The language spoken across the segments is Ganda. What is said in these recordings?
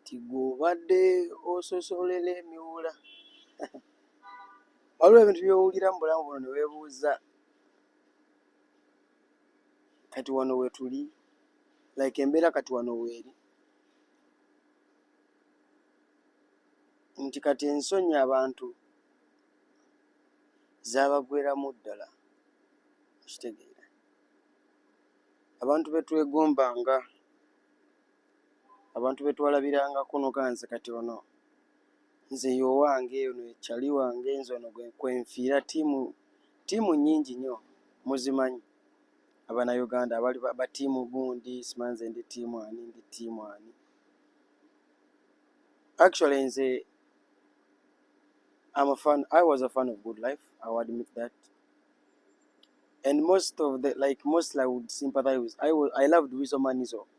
nti gwe obadde ososolera emiwula waliwo ebintu byowulira mu bulamu buno newebuuza kati wano wetuli like embeera kati wano weeri nti kati ensonyi abantu zabagweramu ddala kitegeera abantu betwegombanga abantu betwalabirangako noga nze kati ono nze yowange ono ye chali wange nze ono kwenfiira tiimu tiimu nyingi nyo muzimanyi abanauganda abali batiimu gundi simanyi nze ndi tiimu ani ndi tiimu ani actually nze I'm a fan. I was a fan of Good Life. I will admit that. And most of the like, mostly I would sympathize with. I was. I loved Wizo Manizo.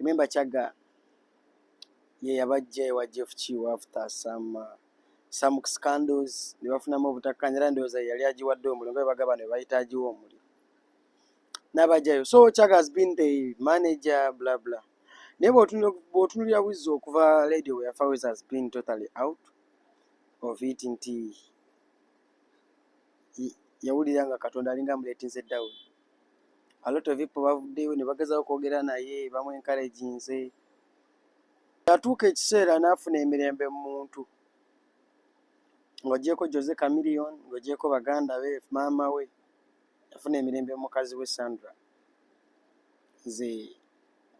Remember Chagga ye yabajja ewa Jeff Kiiwa after some uh, some scandals ne bafunamu obutakkaanya era ndowooza yali agiwadde omuliro nga bwe bagamba ne bayita agiwa omuliro n'abajayo so Chagga has been the manager bla bla naye bw'otunulira buzzi okuva lady we yafa wes has been totally out of it nti yawulira nga katonda alinga amuleetinze dawuni a lot of people bavuddeyo ne bagezaho okwogera naye bamu enkaraginze yatuuka ekiseera n'afuna emirembe mu muntu ng'ogyeko jose camilion ng'ogyeko baganda be maama we yafuna emirembe mu mukazi we sandra nze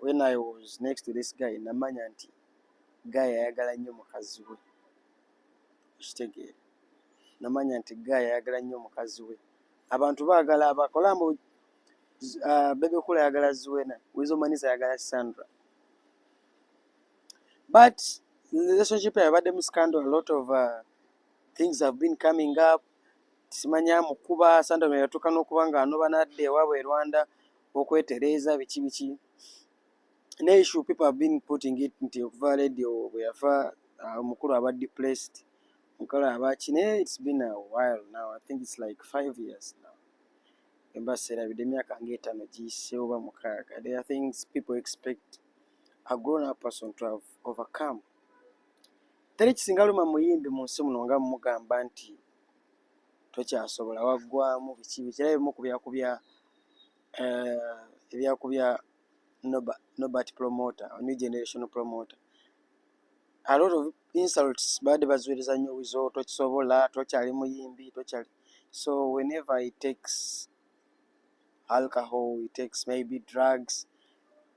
when i was next to this guy namanya nti guy ayagala nnyo mukazi we okitegeera namanya nti guy ayagala nnyo mukazi we Abantu bagala abakola mbu uh, bebe kula yagala Zuena, Wizo Manisa yagala Sandra. But relationship yabadde mu scandal, a lot of uh, things have been coming up. Simanya mukuba Sandra yatuka nokuba nga anoba nadde ewaabwe e Rwanda okwetereeza biki biki. ne issue people have been putting it nti okuva radio bweyafa ah, omukulu aba depressed mukolo abaki naye it's been a while now i think it's like five years now emba serabidde emyaka ngaetano giyise oba mukaaga there are things people expect a grown up person to have overcome teri kisinga luma muyimbi mu nsi muno nga mumugamba nti tokyasobola waggwamu biki bikira ebimu ku byakubya eh, ebyakubya Noba, Nobat promoter, new generation promoter. A lot of insults baade baziwereza nnyo wizo tokisobola, tokyali muyimbi, tokyali. So whenever he takes alcohol, he takes maybe drugs,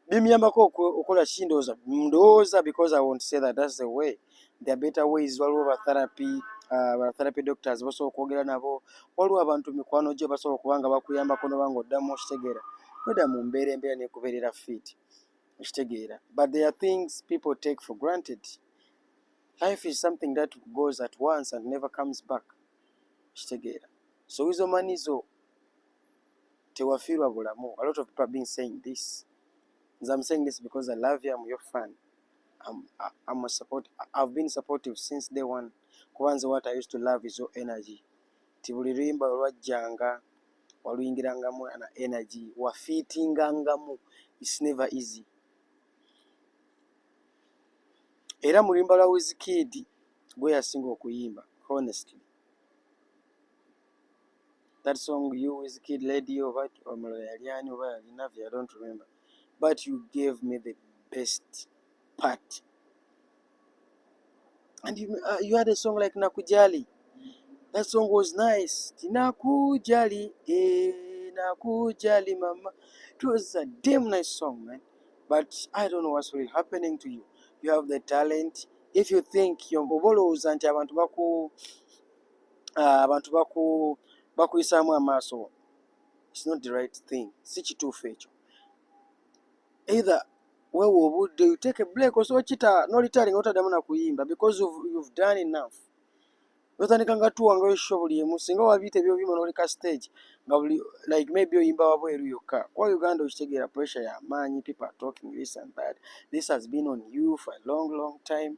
bimuyambako okola kindowooza ndowooza because I won't say that that's the way. there are better ways waliwo ba therapy uh, ba therapy doctors basobola okwogera nabo waliwo abantu mikwano gyo basobola okuba nga bakuyambako noba nga oddamu okitegeera noda mu mbeera embeera nekubeerera fit okitegeera but there are things people take for granted life is something that goes at once and never comes back okitegeera so wizo manizo tewafiirwa bulamu a lot of people have been saying this nze am saying this because i love you am your fan I'm, I'm a support, I've been supportive since day one kuba nze what I used to love is your energy ti buli luyimba olwajjanga waluyingirangamu na energy wafiitingangamu it's never easy era muluyimba lwa wizikidi gweyasinga okuyimba honestly that song you with kid lady oba omulala yali ani oba yali navi i don't remember but you gave me the best part and you, uh, you had a song like nakujali that song was nice tinakujali eh, nakujali mama it was a damn nice song man but i don't know what's really happening to you you have the talent if you think oba olowooza nti abantu baku ah, abantu baku bakuyisaamu amaaso it's not the right thing si kituufu ekyo either wewe obudde you take a break osobola okita nolitali nga otaddamu nakuyimba because of, you've done enough notandika nga tuwanga osho buli emu singa wabiita ebyobyuma noleka stage nga buli like maybe oyimba wabweru yokka kuba uganda okitegeera pressure ya maanyi people are talking this and that this has been on you for a long long time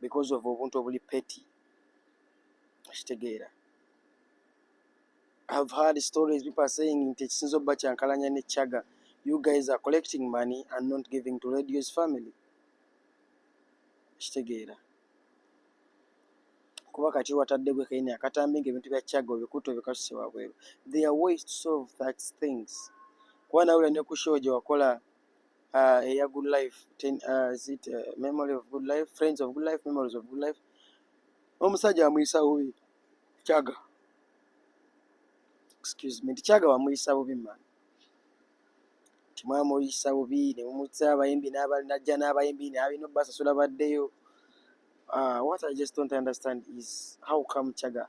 because of obuntu obuli petty okitegeera have heard stories people are saying nti ekisinza obba kyankalanya ne chaga you guys are collecting money and not giving to radio's family okitegeera kuba kati watadde gwe kaine akatambi nga ebintu bya chaga obikuta obikasuse wabweru there are ways to solve that things kuba nawula ne ku show gye wakola uh, eya good life ten, uh, is it, uh, memory of good life friends of good life memories of good life omusajja amuyisa bubi kyaga excuse me tikyaga bamuyisa bubi man timwamuyisa bubi nemumutsa abayimbi najja n'abayimbi nabina obasasula baddeyo uh, what i just don't understand is how come kyaga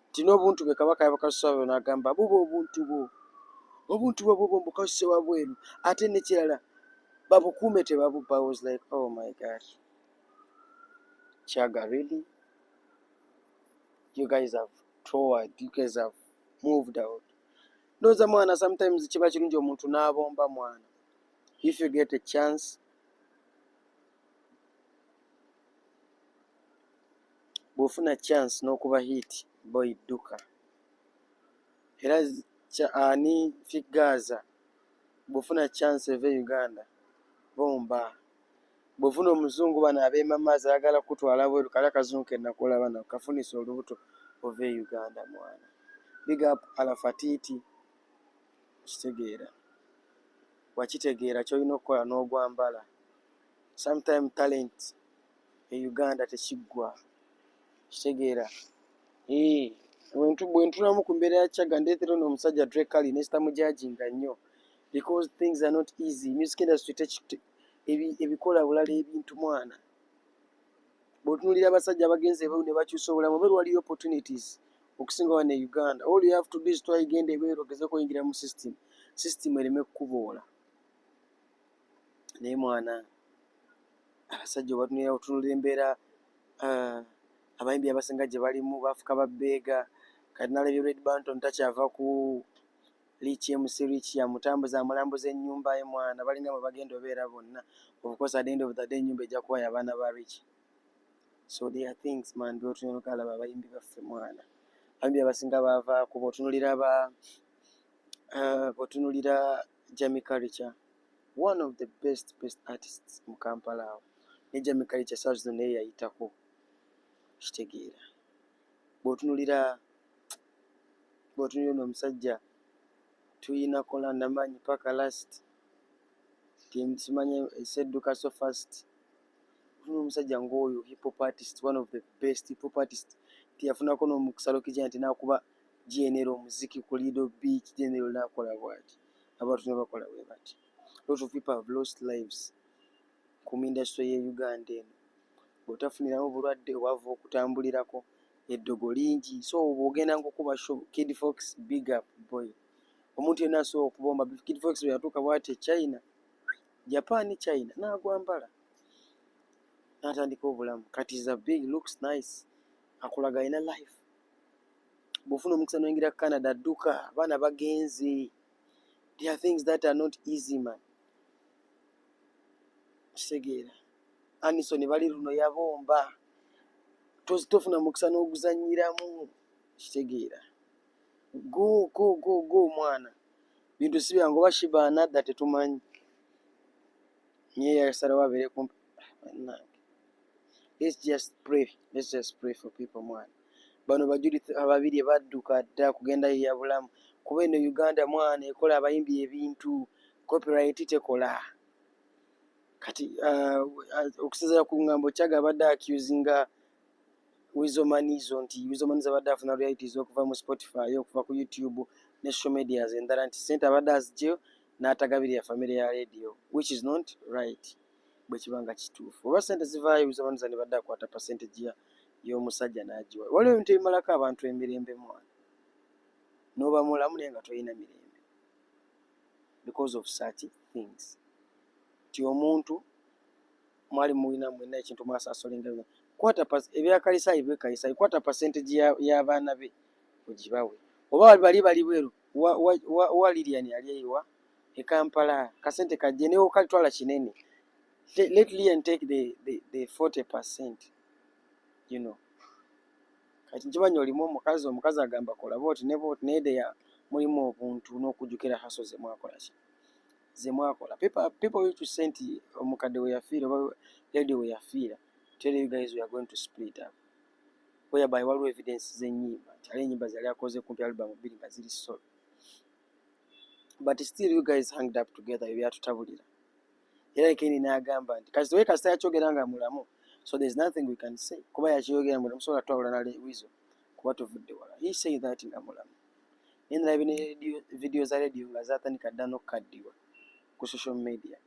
nti n'obuntu bwe kabaka yabukasusa wabweru n'agamba buba obuntu bwo obuntu bwe bubwo mbukasuse wabweru ate nekirala babukuume tebabubba was like oh my god kyaga really you guys have toward you guys have moved out ndowooza mwana sometimes kiba kirungi omuntu n'abomba mwana if you get a chance bwofuna chance nokuba hit boy duka era kya ani figaza bwofuna chance eve uganda bomba bwofuna omuzungu bano abemamaza agala kutwala bweru kala kazungu kenakola bana kafunisa olubuto ove uganda mwana big up alafatiti kitegeera wakitegeera kyolina okukola nogwambala sometime talent e uganda tekiggwa kitegeera ee wentu bwentulamu ku mbeera ya chaga ndeetera ono omusajja drekali nesita mujajinga nnyo because things are not easy music industry ebikola bulala ebintu mwana bwotunulira abasajja abagenze ebeeru ne bakyusa obulamu obeera waliyo opportunities okusinga wane e uganda all you have to do is twayigenda ebeeru ogeze kuyingira mu system system ereme kukuboola naye mwana abasajja obatunulira otunulira embeera ah, abayimbi abasinga gye balimu bafuka babbeega kati nalabye red banton takyava ku liiki mc riik yamutambuza amulambuza ennyumba ye mwana balinga mwe bagenda obeera bonna obukosa at the end of the day ennyumba ejja kuwayo abaana ba riik so they are things man byotunenokalaba abayimbi baffe mwana abayimbi abasinga baavaaku botunulira ba ah, botunulira Jamie Culture one of the best best artists mu Kampala awo ne Jamie Culture saa zino naye yayitako kitegeera bw'otunulira bw'otunulira ono omusajja tuyina kola namanyi paka last simanya esedduka so fast tuno omusajja ng'oyo hip hop artist one of the best hip hop artist tiyafunako n'omukusalo kijana tinakuba na Genero omuziki ku Lido Beach, Genero n'akola bwati, abantu ne bakola bwe bati. Lot of people have lost lives ku industry y'e Uganda eno. Bw'otafuniramu bulwadde obava okutambulirako eddogo lingi. So bw'ogenda ng'okuba show, Kid Fox big up boy. Omuntu yenna asobola okubomba, Kid Fox bwe yatuuka bwati e China, Japan China n'agwambala n'atandika obulamu. Kati is a big, looks nice, akulaga alina life. bwofuna omukisa noyingira canada dduka abaana bagenze there are things that are not easy man kitegeera anison bali luno yabomba tofuna mukisa n'oguzanyiramu kitegeera go go go go omwana bintu si byangu oba shiba anadda tetumanyi naye yasalawo abeere kumpi let's just pray let's just pray for people mwana bano bajulizi ababiri badduka dda kugenda yeya bulamu kuba eno uganda mwana ekola abayimbi ebintu copyright tekola kati uh, uh, okusinzira ku ngambo kyaga abadde accusinga wizomanizo nti wizomanizo abadde afuna realities okuva mu spotify okuva ku youtube ne social medias endala nti sente abadde azigyeyo n'atagabirira famire ya radio which is not right bwe kiba nga kituufu oba sente zivaayo oyinza oba nza ne badde akwata percentage ya y'omusajja n'agiwa waliwo ebintu ebimalako abantu emirembe mwana n'oba mulamu naye nga tolina mirembe because of such things ti omuntu mwali mulina mwena ekintu mwasaasolinga bino kwata ebyakalisaayi bwekalisaayi kwata percentage y'abaana be ogibawe oba bali bali bweru wa, wa, wa, wa lilian ali eyiwa e kampala kasente kajje newo kalitwala kinene let lian take the, the, the 40 percent you know kati nkimanyi olimu omukazi omukazi agamba kola booti ne booti naye deya mulimu obuntu n'okujjukira haso ze mwakola ki ze mwakola people used to say nti omukadde we yafiira oba lady we yafiira tell you guys we are going to split up whereby waliwo evidence z'ennyimba nti ali ennyimba zali akoze kumpi albamu bbiri nga ziri solo but still you guys hanged up together ebyatutabulira era ekindi nagamba nti kasi we kasita yakyogera nga mulamu so there's nothing we can say kuba yakyogera mulamu sobola twawula nale wizo kuba tuvudde wala he say that nga mulamu naye nalaba ne video za radio nga zatandika dda nokukaddiwa ku social media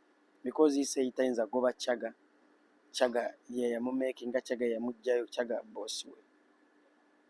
because he say tayinza goba chaga chaga yeyamumakinga chaga yamugjayo chaga boss we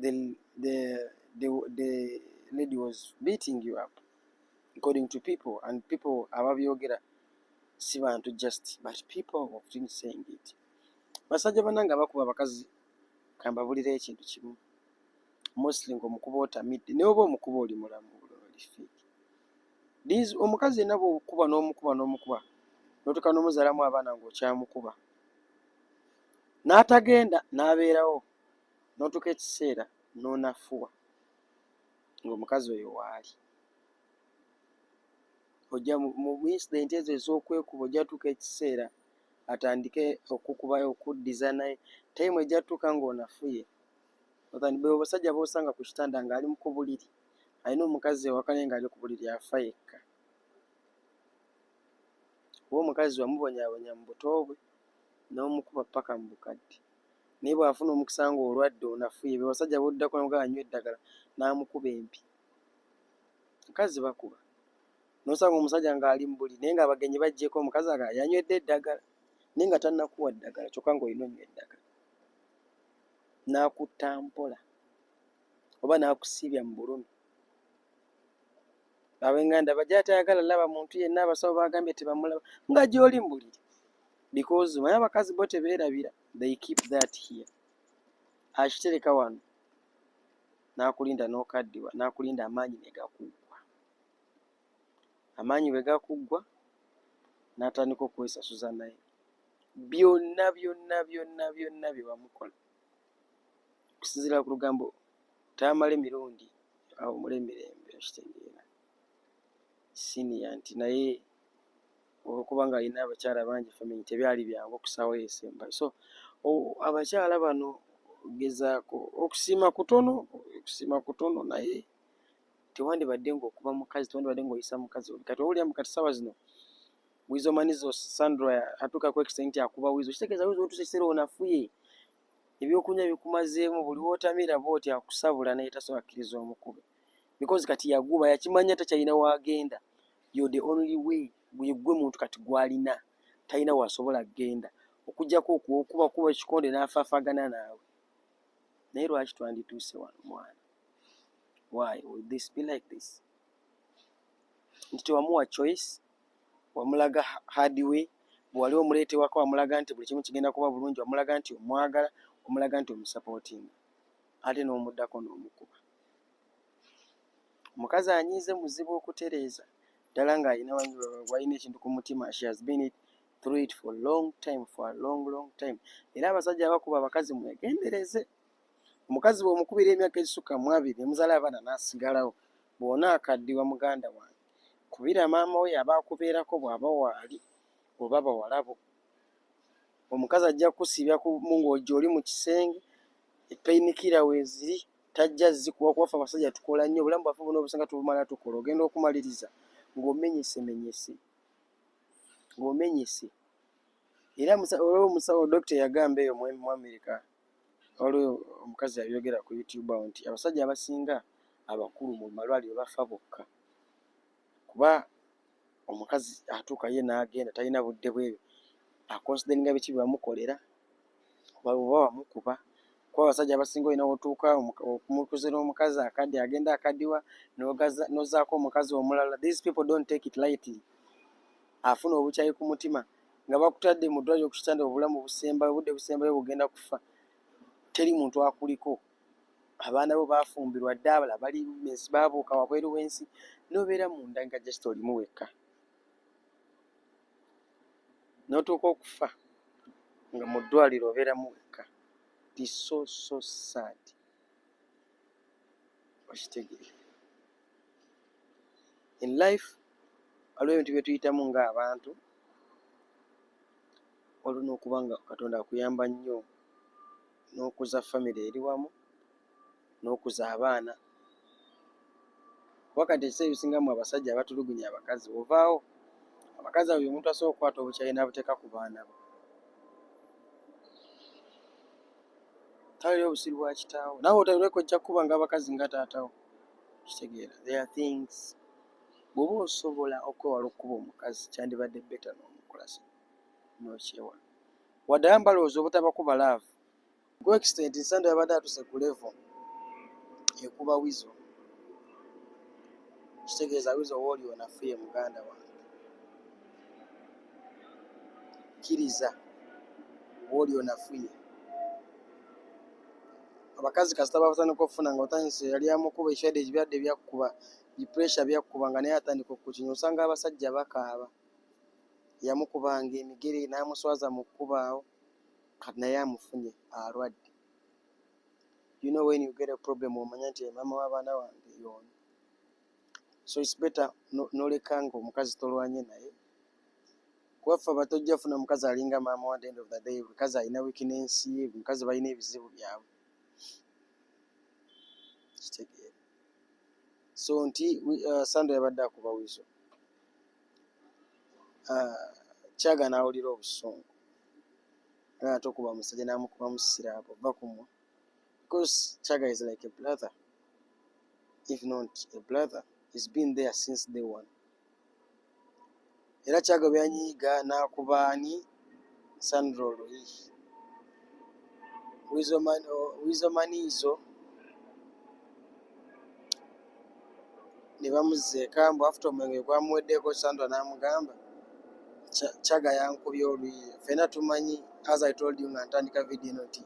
the, the, the, the lady was beating you up according to people and people ababyogera si bantu just but people of been saying it basajja banange abakuba abakazi kambabulira ekintu kimu mostly ngaomukuba otamidde naye oba omukuba oli mulamu these omukazi yenna bwokuba n'omukuba n'omukuba notuka n'omuzalamu abaana ngaokyamukuba n'atagenda n'abeerawo na n'otuuka ekiseera n'onafuwa ng'omukazi oyo waali ojja mu incident ezo ez'okwekuba ojja tuuka ekiseera atandike okukuba okuddiza naye time ejja tuuka ng'onafuye be obasajja b'osanga ku kitanda ng'ali mu kubuliri alina omukazi ewaka naye ng'ali ku buliri afa yekka kuba omukazi wamubonyabonya mu buto bwe n'omukuba ppaka mu bukadde naye bw'afuna omukisa ng'olwadde onafuye be basajja b'oddako nabo gaba anywa eddagala n'amukuba empi. Abakazi bakuba n'osanga omusajja ng'ali mu buliri naye ng'abagenyi baggyeko omukazi aga yanywedde eddagala naye nga tannakuwa ddagala kyokka ng'olina onywa eddagala n'akutta mpola oba n'akusiibya mu bulumi. abenganda bajja atayagala laba muntu yenna abasawo bagambye tebamulaba nga gyoli mbuliri because maya abakazi bo tebeerabira they keep that here akitereka wano nakulinda nokaddiwa nakulinda amaanyi negakuggwa amaanyi bwe gakuggwa natandika okwesasuza naye byonna byonna byonna byonna byewamukola okusinzira ku lugambo tamale mirundi awumule emirembe okitegeera siniya nti naye olwokuba nga alina abakyala bangi family tebyali byangu okusaawo yesemba so abakyala bano gezaako okusiima kutono okusiima kutono naye tewandibadde ngaokuba mukazi tewandibadde ngaoyisa mukazi oli kati owulira mu kati saawa zino Wizo manizo Sandra atuka ku extent ya kuba wizo. Kitegeza wizo otuse kisera onafuye. Ebyokunya bikumazeemu buli wotamira bwoti akusabula naye tasobola kiriza omukube. Because kati yaguba yakimanya takyalina wagenda. You the only way gwe gwe muntu kati gwalina. Talina wasobola genda. Okujjako okuba kuba kikonde n'afafagana naawe. Naye lwaki twandituuse wano mwana? Why would this be like this? Nti tewamuwa choice wamulaga hard way bwewali omuleetewako wamulaga nti buli kimu kigenda kuba bulungi wamulaga nti omwagala omulaga nti omusapootinga ate n'omuddako n'omukuba omukazi anyiize muzibu okutereeza ddala ng'alina walina ekintu ku mutima she has been it through it for long time for a long long time era abasajja abakuba abakazi mwegendereze omukazi bw'omukubira emyaka egisukka mu abiri emuzaala abaana n'asigalawo bw'ona akaddiwa muganda wange Kubira maama wo yaba akubeerako bwaba waali oba bawala bo. Omukazi ajja kukusiibya ku mungo gyoli mu kisenge, eppeyinikira weeziri tajja zikuwa kuba ffe abasajja tukola nnyo, obulamu bwaffe bwonna obusinga tubumala tukola. Ogenda okumaliriza ng'omenyesemenyese, ng'omenyese. Era omusawo, omusawo, dokita eyagamba eyo mu Amerika. Waliwo omukazi yabyogera ku YouTube awo nti abasajja abasinga abakulu mu malwaliro bafa bokka kuba omukazi atuuka ye n'agenda talina budde bwebyo akonsideringa biki bye wamukolera oba wamukuba kuba abasajja abasinga olina wotuuka omukuze n'omukazi akadde agenda akadiwa nozaako omukazi omulala these people don't take it lightly afuna obukyayi ku mutima. nga bakutadde mu ddwaliro ku kitanda obulamu busembayo obudde busembayo bugenda kufa teri muntu akuliko abaana bo bafumbirwa dda abala bali ensi babuuka wabweru w'ensi nobeera munda nga just olimu wekka notuuka okufa nga mu ddwaliro obeeramu wekka tisoso saadi okitegeera in life waliwo ebintu byetuyitamu nga abantu waliwo nokuba nga katonda akuyamba nnyo nokuza famiry eri wamu nokuza abaana kuba kati ekiseera ebisinga mu abasajja abatulugunya abakazi ovaawo abakazi abo byomuntu asobola okukwata obukyayi nabuteeka ku baana bo tawulira obusiru bwa kitaawo nawe otawulire kojja kukuba nga abakazi nga taatawo kitegeera there are things bwoba osobola okwewala okukuba omukazi kyandibadde beta nomukulasa nokyewala wadde aba mbalowooza obutabakuba laavu ku extent nsando yabadde atuse ku levo ekuba wizo kitegeeza wizo wooli onafuye muganda wange kkiriza wooli onafuye abakazi kasita batandika okufuna nga otandise yali amukuba ekyade ekibyadde byakkuba bipuresha byakkuba nga naye atandika okukinya osanga abasajja bakaaba yamukubanga emigere n'amuswaza mu kkubaawo kati naye amufunye alwadde you know when you get a problem omanya nti maama w'abaana wange yoona so its better noleka nga omukazi tolwanye naye kuba ffe abato ojja funa omukazi alinga maama wa end of the day mukazi alina wikinensi ye mukazi balina ebizibu byabwe kitegeera so nti uh, sando yabadde akuba wizo uh, kyaga nawulira obusungu naye tokuba musajja namukuba musisira abo va kumwa because kyaga is like a brother if not a brother he's been there since day one era kyagaba yanyiiga n'akuba ani sandra oluyi wizomaniizo ne bamuzza eka mbu afuta omwenge gwamuweddeko sandra n'amugamba kyaga yankubye oluyi fena tumanyi as i told you nga ntandika vidiyo eno nti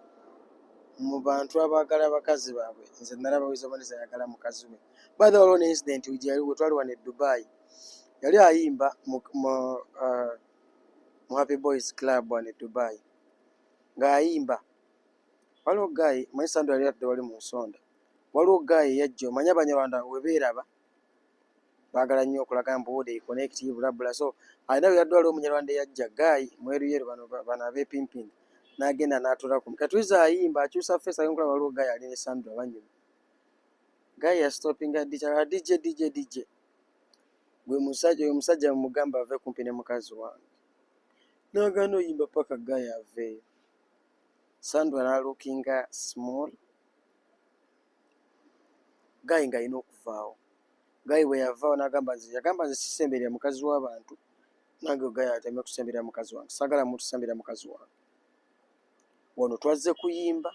mu bantu abaagala abakazi baabwe nze nalaba wizomaniizo ayagala mukazi we by the way waliwo ne incident we twali wano e dubai yali ayimba mu uh, mu happy boys club wano e dubai ng'ayimba waliwo guy manyi sandu yali atudde wali mu nsonda waliwo guy yajja omanya abanyarwanda webeeraba baagala nnyo okulaga mbu wude connect bulabula so alina weyadde waliwo omunyarwanda eyajja guy mweruyeru bano bano abepimping n'agenda n'atulako katuiza ayimba akyusa feesi agenkulaba waliwo guy ali ne sandu abanyuma guy ya stopping a DJ a DJ DJ DJ gwe musajja oyo musajja mugamba ave kumpi ne mukazi wange nagana oyimba paka guy aveyo sandra na looking small guy nga alina okuvaawo guy bwe yavaawo nagamba nze yagamba nze sisemberera mukazi w'abantu nange guy ateme kusemberera mukazi wange sagala muntu sembera mukazi wange wano twazze kuyimba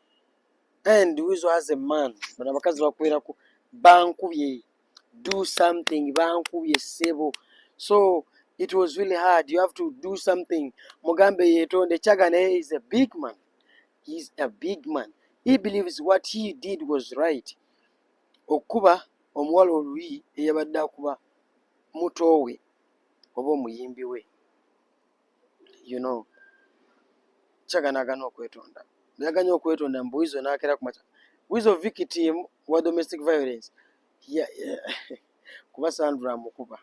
and wizo has a man bano abakazi bakweraku bankubye do something bankubye sebo so it was really hard you have to do something mugambe yetonde chaga naye is a big man heis a big man he believes what he did was right okukuba omuwala oluyi eyabadde akuba mutowe oba omuyimbi we you know chagana agana okwetonda naganya okwetonda mbu wizo nakera kumaca wizo victim wa domestic violence yeah, yeah. kuba sandra mukuba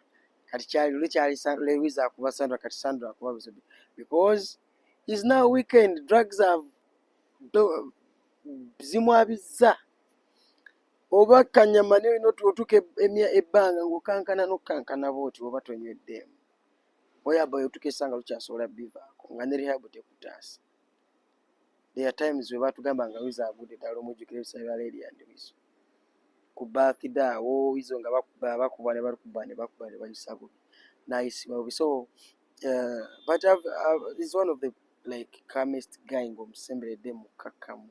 kati kyali luli kyali lewiza akuba sandra kati sandra akuba wizo because is now weekend drugs have do, zimwabizza oba kanyama naye otuuka ebbanga ng'okankana n'okukankana bwoti oba tonyweddeemu Oyabayo tukesa nga tukyasobola bivaako nga ne rehab tekutaasa. There are times we batugamba nga wizo agudde ddala omujjukira ebisaabe bya leeri and wizo. Ku birthday awo wizo nga bakuba bakuba ne bakuba ne bakuba ne bayisa bubi. Nayisibwa bubi. So uh, but I've, I've, is one of the like calmest guy ng'omusemberedde mukkakkamu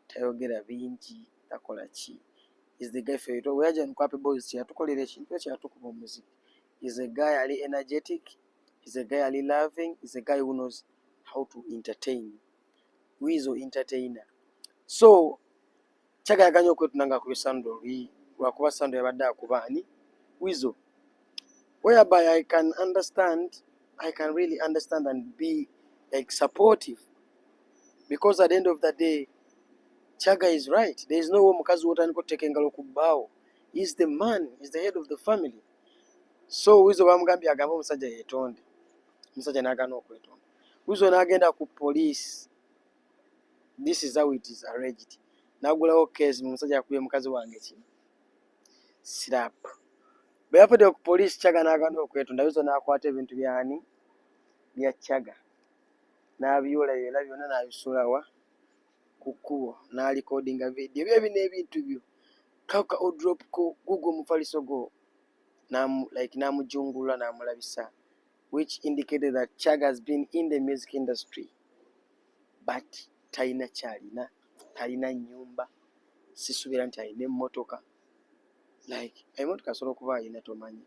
tayogera bingi takola ki is the guy feyito weyaja nukwapa ebozi kyeyatukolera ekintu kyeyatukuba omuziki is a guy ali energetic is a guy ali loving is a guy who knows how to entertain wizo entertainer so kyagayaganya okwetuna nga akubye sando olwi lwakuba sando yabadde akuba ani wizo whereby i can understand i can really understand and be like supportive because at the end of the day chaga is right there is no way omukazi wotandika oteka engalo ku bbaawo is the man is the head of the family so wizo bamugambye agambe omusajja yetonde omusajja nagana okwetonda wizo nagenda ku police this is how it is arranged nagulawo case omusajja akubye mukazi wange kino slap bwe yavudde ku police chaga nagana okwetonda wizo nakwata ebintu byani bya chaga nabyula byona byona nabisulawa ku kkubo n'alikodinga vidiyo bye bino ebintu byo kaka odrop ko gugwo omufaliso gwo like n'amujungulula n'amulabisa which indicated that chag has been in the music industry but talina kyalina talina nyumba sisubira nti alina emmotoka like emotoka asobola okuba alina tomanyi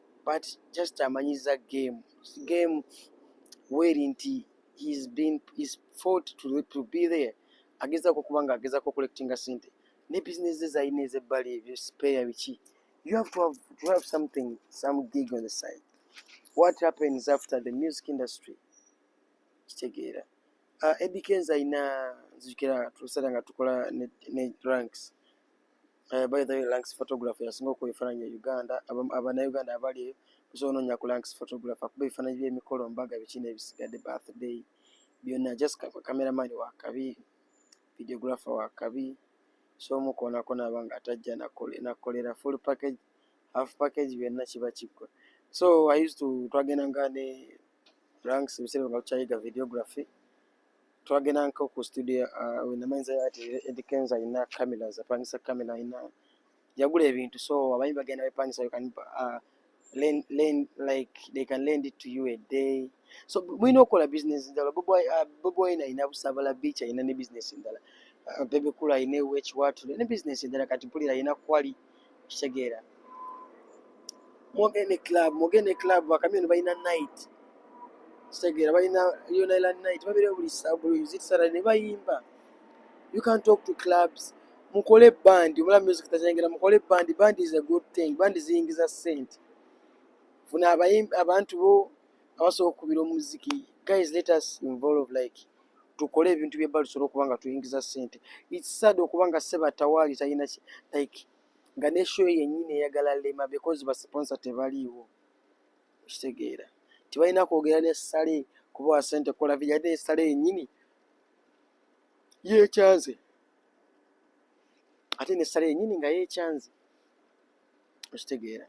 but just amanyiza game game weri nti he's been he's fought to, to be there agezako kuba nga agezako collectinga sente ne business ze zalina ezebbali ebyo spare biki you have to have, to have something some gig on the side what happens after the music industry kitegeera uh, ah, eddie kenza alina nzijukira tulusala nga tukola ne, ne ranks Uh, by the way, Lanks photographer yasinga okuwa ebifaananyi e Uganda. Abannayuganda abali eyo osobola onoonya ku Lanks photographer akuba ebifaananyi by'emikolo, mbaga, biki n'ebisigadde, birthday byonna. Just cameraman wa kabi, videographer wa kabi, so omu koonako naaba nga atajja nakolera full package, half package byonna kiba kiggwa. So I used to twagendanga ne Lanks ebiseera nga tukyayiga videography. twagendanko ku studio uh, wenamanyiza ati edi kenza alina cameras apangisa camera alina yagula ebintu so abayi bagenda bepangisa you can uh, lend, lend, like they can lend it to you a day so mulina okukola business ndala boboyina uh, alina busabala beach alina ne business ndala uh, bebekulu alina ewekiwatu ne business ndala kati mpulira alina quality okitegeera mwogende club mwogende club bakamyoni balina night kitegeera balina unila night babire buli zisara ne bayimba you can talk to clubs mukole bandi omula music tazengera mukole bandi bandi is a good thing bandi ziyingiza sente funa abantu bo abasobola okukubira omuziki guys let us involve like tukole ebintu bye bali solo kubanga tuingiza sente it's sad okubanga seba tawali tayina like nga ne show yenyine yagala lema because ba sponsor tebaliwo kitegeera tebalina kwogera ne sale kubawa sente kola vijade sale yenyini yekyanze ate ne sale yenyini nga yekyanze okitegeera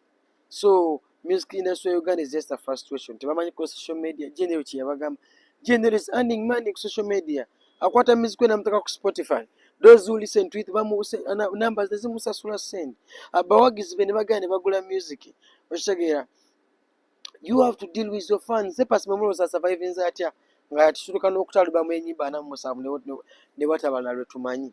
so music industry ya uganda is just a frustration tebamanyi ku social media general kyeyabagamba general is earning money ku social media akwata music we namuteka ku spotify those who listen to it bamuse numbers nezimusasula send abawagizi be nebagenda nebagula music okitegeera you have to deal with your fans sepasi mwemuloza survivinze atya nga yatutuluka n'okutalibamu enyimba anamu musanvu ne watabala lwe tumanyi